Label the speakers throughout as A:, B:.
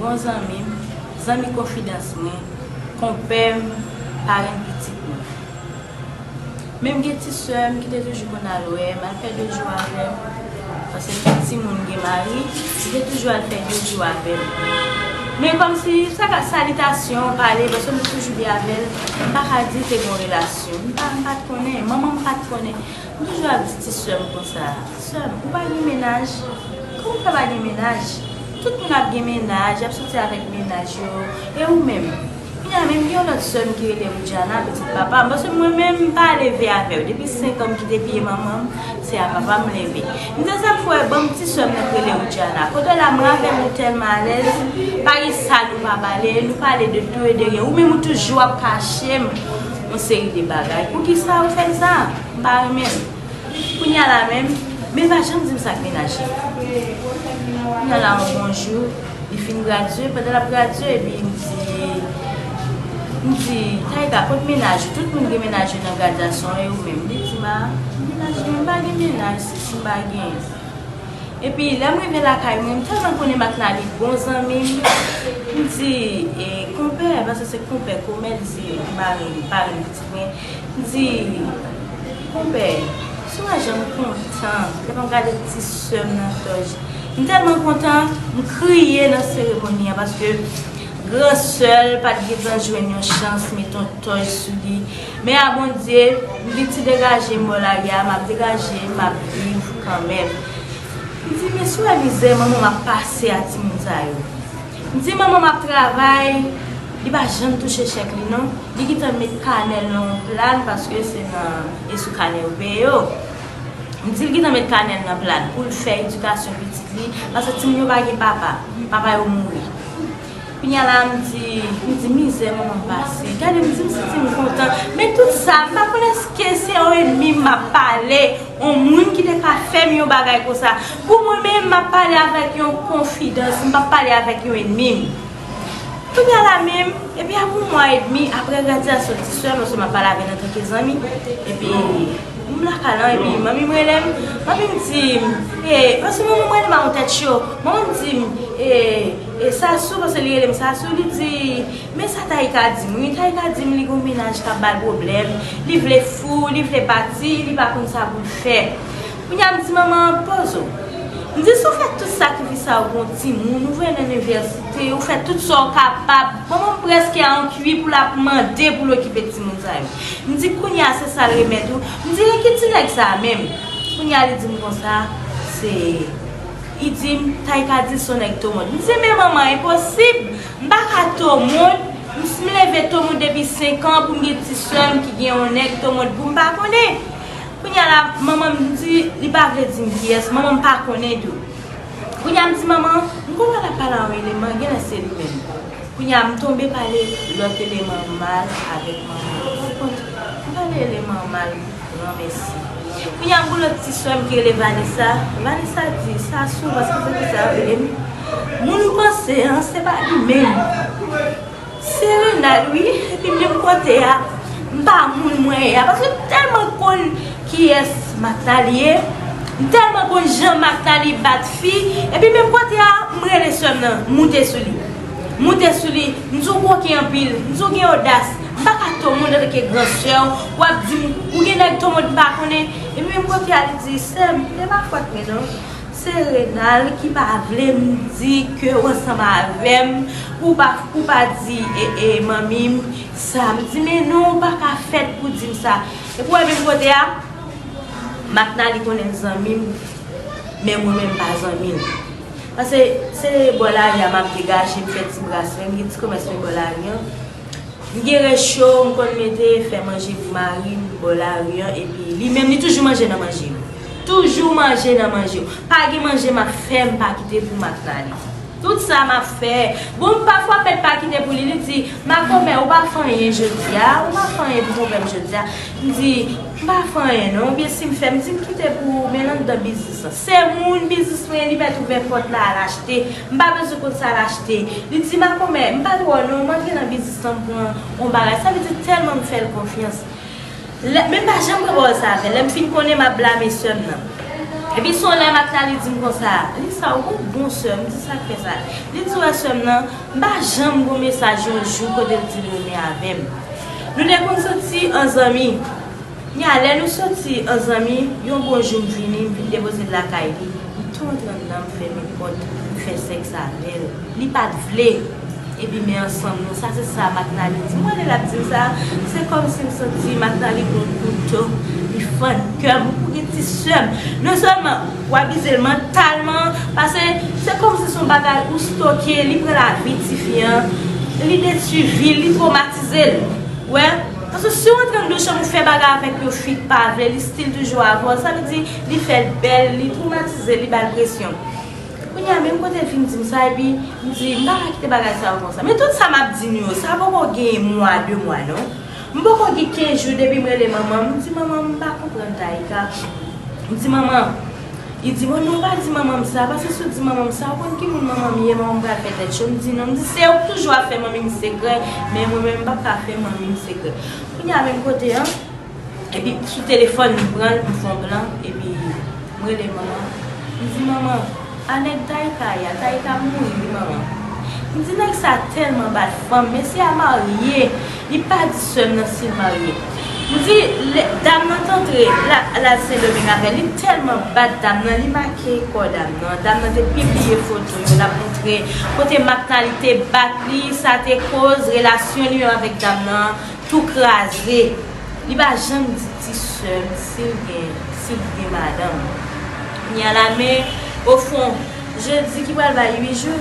A: Bon zanmi m, zanmi konfidans mwen, konpè m, parenn pitit mwen. Menm gen ti sè m ki te toujou konn al wè m, al fè de jou avè m, paske m te timoun, m gen mari, li te toujou al fè de jou avè m. Men kòmsi, sa ka salitasyon, pale, paske m te toujou byen avè l, m pa ka di te gen yon relasyon. M pa, m pa t konnen, manman m pa t konnen. Ou toujou ap di ti sèm konsa. Ti sèm, ou pa gen mennaj? Kòman ou fè pa gen mennaj? Tout moun ap gen mennaj, y ap soti avèk mennaj yo. E ou menm? Kounye a menm gen yon lòt sèm ki rele Woudjana, pitit papa m. Paske mwen menm m pa leve avè yo. Depi senk an m kite pye manman m, se a papa m leve. M di sa m fè wè ban m ti sèm nan ki rele Woudjana. Kote w la mwen avè l nou tèlman alèz, pa gen sa nou pa pale, nou pale de tou e de ryen. Ou menm ou toujou ap kache m. Yon seri de bagay. Poukisa ou fè m sa? M pa renmen l. Kounye a la menm, men l pa janm di m sa k mennaj li. Kounye a la yon bon jou, li fin gradye, pandan l ap gradye epi m di, m di, Taïka, kot mennaj ou? Tout moun gen mennaj yo nan gradyasyon an, e ou menm? Li di m, a, mennaj mwen, m pa gen mennaj, si si m pa genyen. Epi lèm rive lakay mwen, m tèlman konnen Matnalie bon zanmi m, m di e konpè, paske se konpè komè li se mari m, parenn pitit mwen, m di konpè, sou wè janm kontan lè map gade ti sè m nan Tòj, m tèlman kontan m kriye nan seremoni an paske gran sè l pat gentan jwenn yon chans met yon Tòj sou li. Men a Bondye, m di ti degaje m bò lari a, m ap degaje, m ap viv kanmenm. M di men si w wè mizè manman m ap pase a timoun sa yo. M di manman m ap travay, li pa janm touche chèk li non, li gentan met kanè l nan yon pla l paske se nan e sou kanè yo peye yo. M di l gentan met kanè l nan pla l pou l fè edikasyon pitit li paske timoun yo pa gen papa, papa yo mouri. Kounya la m di m di mizè manman m pase gade m di m santi m kontan men tout sa m pa konn eske se yon enmi m ap pale yon moun ki te ka fè m yon bagay konsa pou mwen menm m ap pale avèk yon konfidans m pap pale avèk yon enmi m kounya la menm epi apre yon mwa edmi apre gradyasyon ti sè m paske m ap pale avè l antanke zanmi epi m lakay la epi manmi m rele m manmi m di m e paske manman m rele m a yon tèt cho manman m di m e. E Sasou, paske li rele m Sasou, li di, Men sa Taïka di m wi, Taïka di m li gen yon mennaj k ap ba l pwoblèm, li vle fou, li vle pati, li pa konn sa pou l fè. Kounye a m di manman an, Pozo, m di si w fè tout sakrifis sa yo pou yon timoun, ou voye l nan inivèsite, ou fè tout sa w kapab, manman m prèske a an kwi pou l ap mande pou l okipe timoun sa yo. M di kounye a se sa l remèt ou, m di e ki ti nèg sa a menm? Kounye a li di m konsa, se. Li di m, Tay ka di l son nèg to moun. M di, Men manman, enposib! M pa ka to moun. M sm leve to moun depi senk an pou m gen ti sè m ki gen yon nèg to moun pou m pa konnen. Kounye a la, manman m di, li pa vle di m kiyès, manman m pa konnen tou. Kounye a m di manman, m konprann l ap pale a yon eleman, gen lè se li menm. Kounye a m tonbe pale lòt eleman mal avèk manman. Ou konprann? M pale eleman mal. Gran mèsi. Kounya m pou lòt ti swè m ki rele Vanessa. Vanessa di sa souvan se pou kisa yo rele m moun m panse an se pa li menm. Se Renald wi epi menm kote a m pa moun mwen ye a paske m tèlman konn kiyès Mathalie ye. M tèlman konn jan Mathalie bat fi epi menm kote a m rele swè m nan moute sou li. M moute sou li, m di w koken anpil, m di w gen odas, m pa ka tomonde antanke gran sè w, w ap di m ou gen nèg tomonde m pa konnen. Epi menm kote a li di, sè m, e pa fòt mwen non, se Renal ki pa vle m di ke w ansanm avè m pou w pa di manmi m sa. M di men non, ou pa ka fèt pou w di m sa. Epi w wè menm kote a, Maknali konnen m zanmi l, men mwen menm m pa zanmi l. Pase se bò lari a map degaje m fè ti bras mwen, m gen ti komès mwen bò lari an. M gen recho m konn mete fè manje pou mari m bò lari an epi li menm li toujou manje nan manje yo. Toujou manje nan manje yo. Pa gen manje map fè m pa kite pou Matnalie. Tout sa map fè. Bon pafwa mèt pa kite pou li, li di, Makomè ou pa fè anyen jodi a, ou pa fè anyen pou konpè m jodi a. M di. M pa fè anyen non oubyen si m fè m di m kite pou ou men l anndan biznis lan. Se moun biznis mwen ye li mèt ouvè pòt la al achte. M pa bezwen konn sa l achte. Li di makomè m pa twò non m antre nan biznis lan m pran on bagay sa vle di tèlman m fè l konfyans lè men m pa janm pran pawòl sa avè l lè m fin konnen m ap blame sè m nan. Epi s on lè m ap la li di m konsa li sa w konn bon sè m di sa k fè sa li di wè sè m nan M pa janm gon mesaj yon jou kote l di l renmen avè m. Nou te konn soti an zanmi. Men a lè nou soti an zanmi, yon bon jou m vini, m vin depoze l lakay li, m tou antre anndan m fèmen pòt, m fè sèks avè l. Li pa t vle. Epi men ansanm nou. Sa se sa Maknali di m. Wè lè l ap di m sa, se kòmsi m santi Maknali gon kouto, li fann kè m. Ou gen ti sè m. Non sèlman. Ou abizel mantalman pase se komsi son bagay ou stoke li pran lavi tifi an li detui vil li tromatizel ou wè paske siw antre nan 2 chanm ou fè bagay avèk yo fik pa vle li stil toujou avèw sa vle di li fèl bèl li tromatizel li bal presyon kounye a menm kote vin dim sa epi mdi mpaka kite bagay sa yo konsa men tout sa map di nou yo sa poko gen mwa 2 mwa non. M poko gen 15 jou depi m rele manman m di manman m pa konprann Taïka m di manman li di m oh non ou pa di manman m sa paske si w di manman m sa ou konn ki moun manman m ye manman m pral fè tèt cho m di non m di se ou k toujou ap fè manmi m sekrè men mwen menm m pap ka fè manmi m sekrè kounya menm kote an epi sou telefòn m pran l m fon plan epi M rele manman. M di manman, a nèg Taïka ya, Taïka mouri wi manman. M di nèg sa tèlman bat fanm, mesye a marye, li pa di sè m nan si l marye. M di lè dam nan t antre, l al sendomeng avè l, li tèlman bat dam nan, li make kò dam nan, dam nan te pibliye foto yo, l ap montre kote Maknaly te bat li, sa te koz relasyon li menm avèk dam nan tou kraze. Li pa janm di. Ti seum sil gen sil t gen madanm knya la men o fon jeudi ki pral bay 8 jou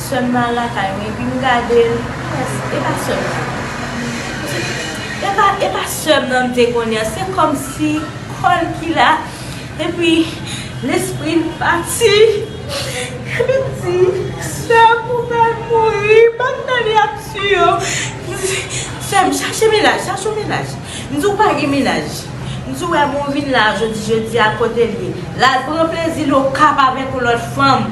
A: seum nan al lakay mwen epi m gadel epa seum nan epa epa seum nan m te konnen an se kòmsi kòl ki la epi lespri l pati epi m di seum ou pral mouri bann nèg la ap tuye w seum chache mennaj chache w mennaj. M di w pa gen mennaj. M di w wè moun vin la jodi jodi a kote l ye. L al pran plezi l Okap avèk yon lòt fanm.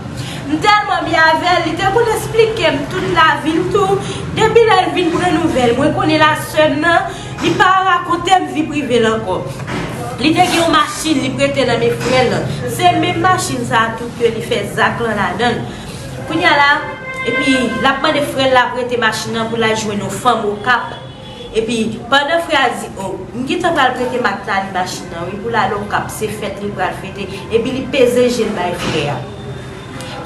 A: M tèlman byen avè l, li te konn esplike m tout lavi l tou. Depi lè l vin pran nouvèl mwen konnen l a sè m nan, li pa rakonte m vi prive l ankò. Li te gen yon machin li prete nan men frè l lan. Se menm machin sa a tou ke li fè zak lan ladan l. Kounye a la, epi l ap mande frè l la prete machin nan pou l al jwenn yon fanm Okap. Epi pandan frè a di oh m gentan pral prete Mathnalie machin nan wi pou l ale okap se fèt li pral fete epi li peze je l bay frè a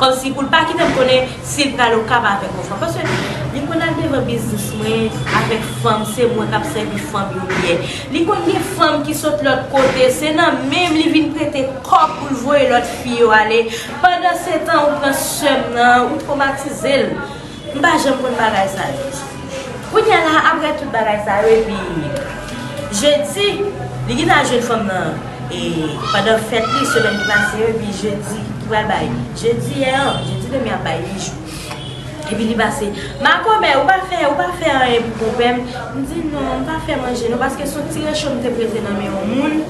A: kòmsi pou l pa kite m konnen si l pral okap avèk yon fanm paske li konn al devan biznis mwen avèk fanm se mwen k ap sèvi fanm yo byen li konn gen fanm ki sot lòt kote se nan men m li vin prete kòb pou l voye lòt fi yo ale pandansetan ou pran sè m nan ou twomatize l. M pa janm konn bagay sa yo. Kounya la aprè tout bagay sa yo epi Jedi li gin al jwenn fanm nan e pandan fèt li semèn ki pase yo epi Jedi ki pral bay Jedi yè an Jedi demen ap bay 8 jou. Epi li pase Makomè ou pa fè ou pa fè anyen pou konpè m M di non m pa fè manje non paske son ti recho m te prete nan men yon moun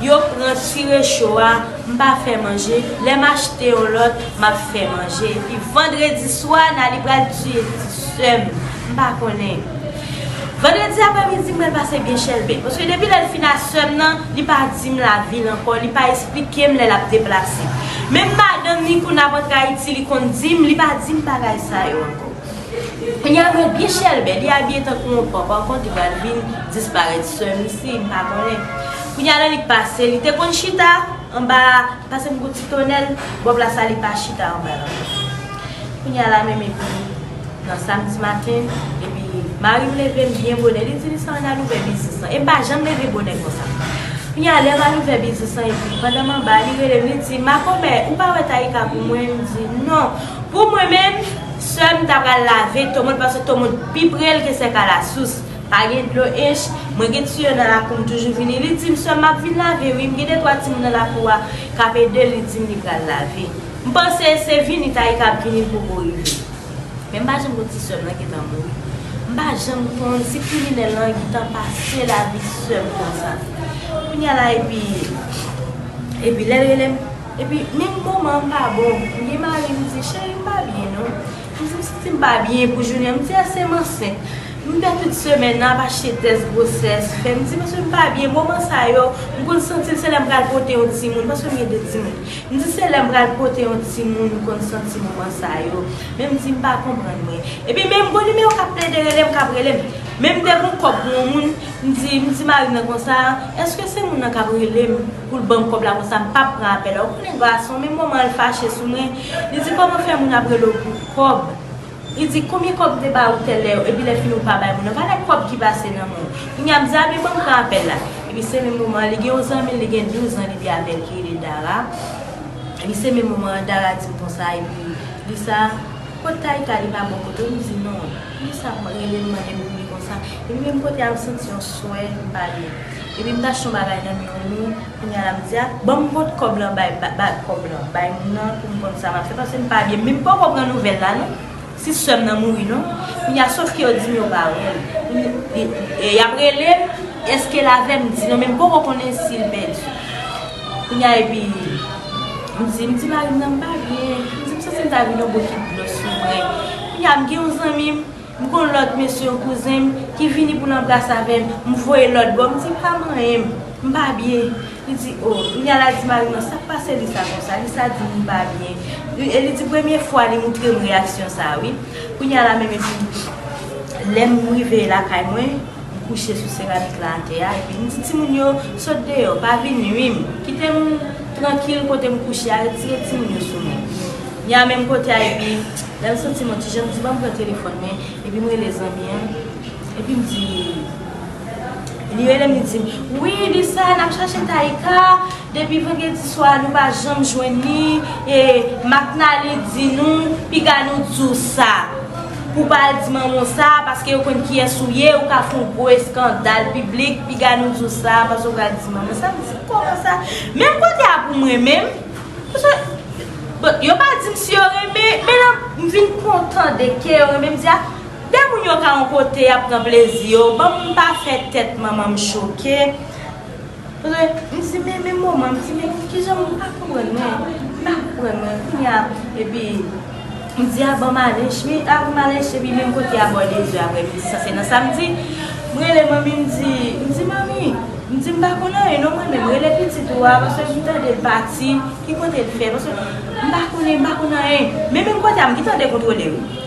A: yo pran ti recho a M pa fè manje, lè m achte yon lòt, m ap fè manje. Epi vandredi swa, Naly pral tiye ti sè m. M pa konnen. Vandredi aprèmidi, m pral pase byen chèlbè. Paske depi lè l fin a sè m nan, li pa di m lavi l ankò, li pa esplike m lè l ap deplase. Menm madanm li, kou n ap antre Ayiti, li konn di m, li pa di m bagay sa yo ankò. Kounya mwen byen chèlbè li abiye tankou yon pòp ankò ki pral vin disparèt seum isi m pa konnen kounya lè li pase li te konn chita anba pase m gou ti tonèl bò plasa li pa chita anba l ankò kounya la menm epi nan samdi maten epi mari m leve m byen bonè li di Lisa ann al ouvè biznis lan e m pa janm leve bonè konsa kounya lè m al ouvè biznis lan epi pandan m anba li rele m li di makomè ou pa wè Taïka pou mwen m di non. Pou mwen menm, sèm ta pral lave tomoun paske tomoun pi prel ke sèk alasous. Pa gen dlo ench, mwen gen tiyo nan lakou m toujou vini li dim sèm map vin lave wi m gen de twa timoun nan lakou a kap edel li dim li pral lave. M panse se vini Taïka ap vini l poko rive. Men m pa janm konn si sèm lan gentan mouri. M pa janm konn si kriminèl lan gentan pase lavi sèm konsa. Kounya la epi epi lèl relem. Epi menm moman m pa bon m gen mari m di cheri m pa byen non m di m santi m pa byen pou jounen an m di èske m ansent m fè tout semèn nan ap achte tès gwosès fè m di paske m pa byen moman sa yo m konn santi m se lè m pral pote yon timoun paske m gen 2 timoun m di se lè m pral pote yon timoun m konn santi moman sa yo men m di m pa konprann mwen epi menm bon nimewo k ap plede rele m k ap rele m menm m te gen yon kòb pou yon moun m di m di mari m nan konsa èske se moun nan k ap rele m. Poul banm kòb la konsa m pap pran apèl la ou konnen gason men moman l fache sou mwen li di kòman fè moun ap rele w pou kòb li di konbyen kòb m te ba ou tèlè epi lè fini ou pa bay moun nan valè kòb ki pase nan men w kounya m di a men banm pran apèl la epi se menm moman an li gen yon zanmi l li gen 12 ans li te avèl ki rele Dara epi se menm moman an Dara di m konsa epi li sa kot Taïka li pa bò kote w m di non. Fi sa ap relem mande pou li konsa epi menm kote al santi yon swè li pa byen epi m t achte yon bagay nan men yon moun kounya lap di a banm pot kòb lan bay bag kòb lan bay moun nan pou m konn sa map fè paske m pa byen men m poko pran nouvèl la non si sèm nan mouri non kounya sof ke yo dim yo pa wèl kounya yap relem eskel avèm m di non men m poko konnen sil pèdi kounya epi. M di, m di mari m nan m pa byen. M di, m santi m ta vin yon bokit dlo sou mwen. Kounye a, m gen yon zanmi m, m konn lòt mesye, yon kouzen m, ki vini pou l anbrase avè m. M voye lòt bò, m di, pa manyen m. M pa byen. Li di, o. Kounye a, l a di mari m nan, sa k pase li sa konsa? Li sa di m li pa byen. Li, e li di premye fwa li moutre m reyaksyon sa a wi. Kounye a la menm epi, lè m rive lakay mwen. M kouche sou seramik la atè a epi m di timoun yo, Sot deyò, pa vin nui m. Kite m trankil kote m kouche a, retire timoun yo sou mwen. N a menm kote a epi lè m santi m on ti jan, m di ban m pran telefòn mwen epi m rele zanmi an epi m di Li rele m li di m, Wi Lisa, n ap chache Taïka depi vandredi swa nou pa janm jwenn li e Maknalie di nou piga nou di w sa. Pou pa al di manman w sa, paske yo konn kiyès ou ye, ou ka fè yon gwo eskandal piblik, piga nou di w sa, paske ou pral di manman w sa, m di kòman sa, menm kote a pou mwen menm, paske, bon, yo pa di m si yo renmen, men lè m vin kontan de ke yo renmen, m di a, de moun yo ka yon kote y ap pran plezi yo, ban m pa fè tèt manman m choke. Re, M di men men moman m di men kijan m pa konprann mwen pa konprann mwen kounye a epi m di a banm ale chmi a banm ale chmi men m pote a bò 2 zè aprè midi sa se nan samdi m rele manmi m di m di manmi m di m pa konn anyen non mwen menm rele pitit ou a paske m tande l pati ki kote l fè paske m pa konnen m pa konn anyen men menm kote a m gentan dekontwole wi.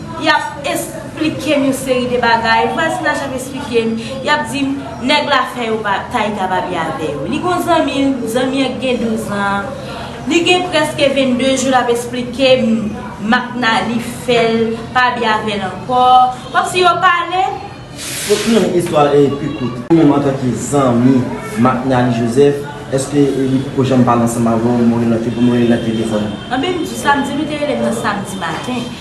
A: Yap esplikem yon seri de bagay, vwazen an chak esplikem, yap dim nèg la fè yo pa tay ta babi avè yo. Li gon zanmi, zanmi an ki gen 12 an, li gen prèske 22 jou lap esplikem makna li fèl pa bi avèl ankò, kòmsi yo pale. Pou fini
B: istwa e pi kout, ou menm antanke zanmi makna li Joseph, eske li poko janm pale ansanm avèw, Morelante pou Morelante telefòn? Anben m di sa, m di
A: nou te relem nan samdi maten.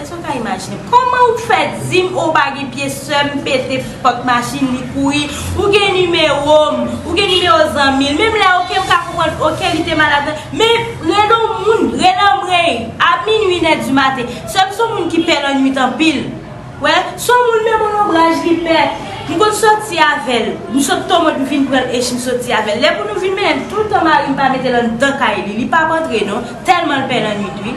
A: Eske w ka imajine? Koman ou k fè dim ou pa gen pye sèm pete pòt machin li kouri ou gen nimewo m ou gen nimewo zanmi l menm lè ok m ka konprann ok li te malad nan men rele w moun rele anmweyy a minwi nè di maten sèm son moun ki pè lanwit anpil wè son moun menm on lonbraj li pè m konn soti avè l m sot Tomod m vin pran l echi m soti avè l lè pou nou vin mennen toutan mari m pa mete l anndan kay li li pap antre non tèlman l pè lanwit wi.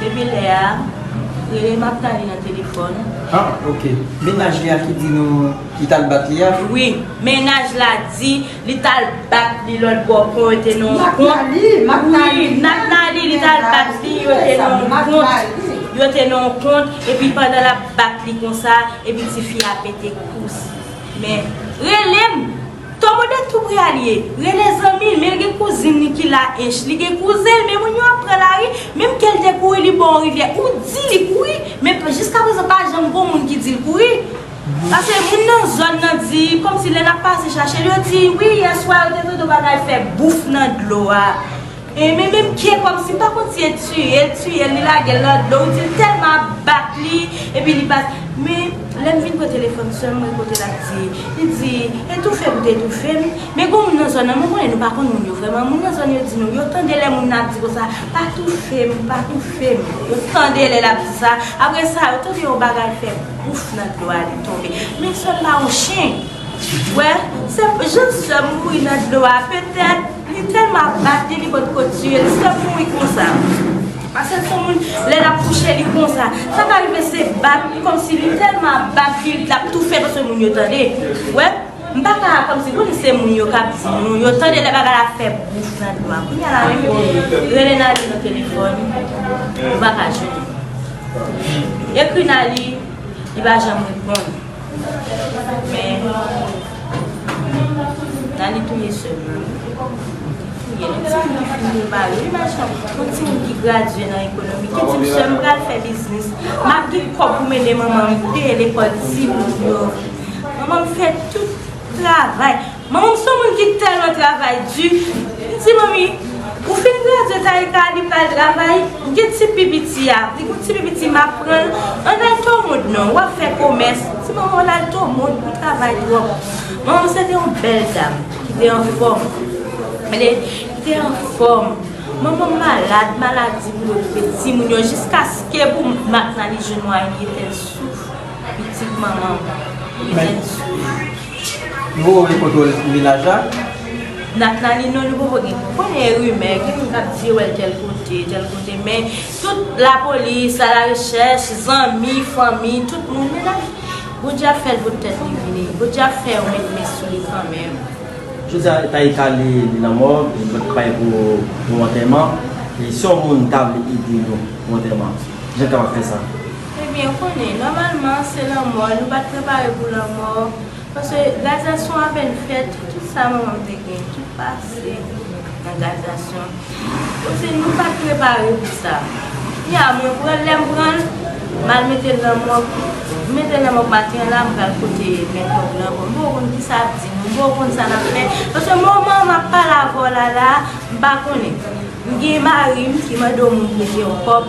A: Depi lè a, rele m ap tande nan telefòn. Ah ok,
C: mennaj li a ki di nou li t al bat li a? Wi, mennaj
A: la di li t al bat li lòt bò kon yo te nan yon kont. Nathalie, Nathalie! Wi, Nathalie li t al bat li, yo te nan yon kont, yo te nan yon kont epi pandan l ap bat li konsa epi tifi a pete kous. Men, rele m! Tomo de tou prè al ye, rele zanmil menl gen kouzin li ki la ench li gen kouzenl men moun yo ap pran lari menm kel te kouri li bò on rivyè ou di li kouri men jiska prezan pa janm gon moun ki dil kouri pase moun nan zòn nan di komsi lè nap pase chachel yo di wi yèswa yo te tande on bagay fè bouf nan dlo a. Aimé menm kye komsi pa konn si e tiyel tiyel li lagel nan dlo ou dil telman ap bat li epi li pa men lèm vin pran telefòn sèm mwen kote lap di li di etoufem te etoufem men gon moun nan zòn nan mwen konnen nou pa konn moun yo vrèman moun nan zòn yo di nou yo tande lè moun nan ap di konsa pa toufem pa toufem yo tande lè lap di sa aprè sa yo tande yon bagay fè pouf nan dlo a li tonbe men sèm pa yon chen wè sèm jan sèm mouri nan dlo a petèt. Li telman ap bat li li pot ko tiye li se mouri konsa pasel son moun lè lap kouche li konsa sa ka rive se bat komsi li telman ap bat li lap toufe paske moun yo tande ou wè m paka komsi bon se moun yo kap di nou yo tande lè bagay la ap fè bouf nan do a kounya la menm rele Naly nan telefòn ou paka jwenn li ekri Naly li pa janm reponn. Men Dany touye sèm nan wi. Touye l. Yon ti moun ki fin gen mari wi machan. Yon ti moun ki gradye nan ekonomi ki di m sèm pral fè biznis. M ap gen kòb pou mede manman m peye lekòl timoun yo. Manman m fè tout travay. Manman m son moun ki tèlman travay di, m di manmi ou fin gradye Taïka li pral travay, m gen ti pi piti a, li gon ti pi piti m ap pran l, ann al Tomond non, wap fè komès, m di manman w lal Tomond li travay twòp. Manman m se te yon bèl dam ki te anfòm, li te anfòm, manman m malad, maladi pou l okipe timoun yo jiskaske pou Marc-Marie jwenn mwayen li etèn souf, pitit manman m etèn souf. Nouvo wè foto
C: minaj la. Natnaline
A: non li poko gen moun. Konnen e rimè, gen moun kap di yo wèl tèl kote, tèl kote men tout lapolis, la la rechèch, zanmi, fanmi, tout moun men lap Bondye ap fèl pot tèt li vini. Bondye ap fè yo met men sou li kanmenm. Jodia
B: Taïka li nan mòg li pral pay pou yon antèman e si yon moun ta vle ede nou pou antèman kijan l kapab fè sa? Ebyen, konnen,
A: nòmalman, se lanmò, nou pa t prepare pou lanmò, paske gradyasyon apèn fèt, tout sa manman m te gen, tout pase nan gradyasyon. Donk, se nou pa t prepare pou sa. Kounye a, mwen pran l, lè m pran l, m al mete l nan mòg, m mete l nan mòg maten an la, m pral pote mèt mòg lan ban m. M poko konn ki sa ap di nou, m poko konn sa n ap fè, paske moman m ap pale avè w la la a, m pa konnen. M gen mari m ki mande w moun prete yon kòb.